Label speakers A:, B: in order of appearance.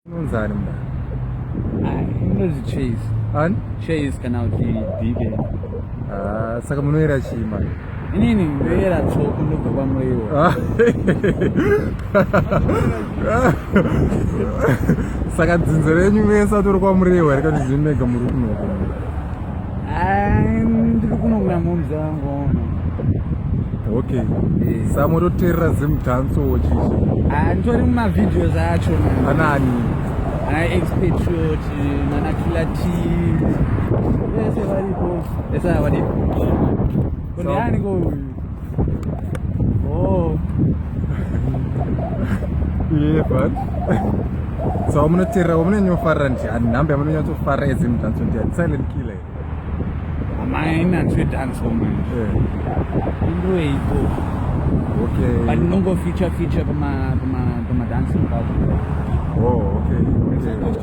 A: Unonzani mna? Ai,
B: unonzi chase. Ani? Chase
A: kana kuti
B: bibe. Ah,
A: saka munoera chii manje? Inini ndoera
B: tsoko ndobva kwamuriwo. Ah.
A: Saka dzinzo renyu mesa turi kwamuriwo here kana zvinega muri kunoko?
B: ndiri kuno kuna momzi vangu ono
A: okay samototerera zimudhanso chichi nditori mumavideos
B: acho anani
A: ana
B: expatriot nana killer team vese varipo esa vadipo kune aniko uyu Oh.
A: yeah, but so wamunoteerera wamunonyofarira ndiani nhambe yamunonyatsofarira edzi mudanso ndiani silent killer
B: amaina ndwedanso manje indoeiko okay
A: but nongo feature
B: feature kuma kuma kuma dancing oh
A: okay okay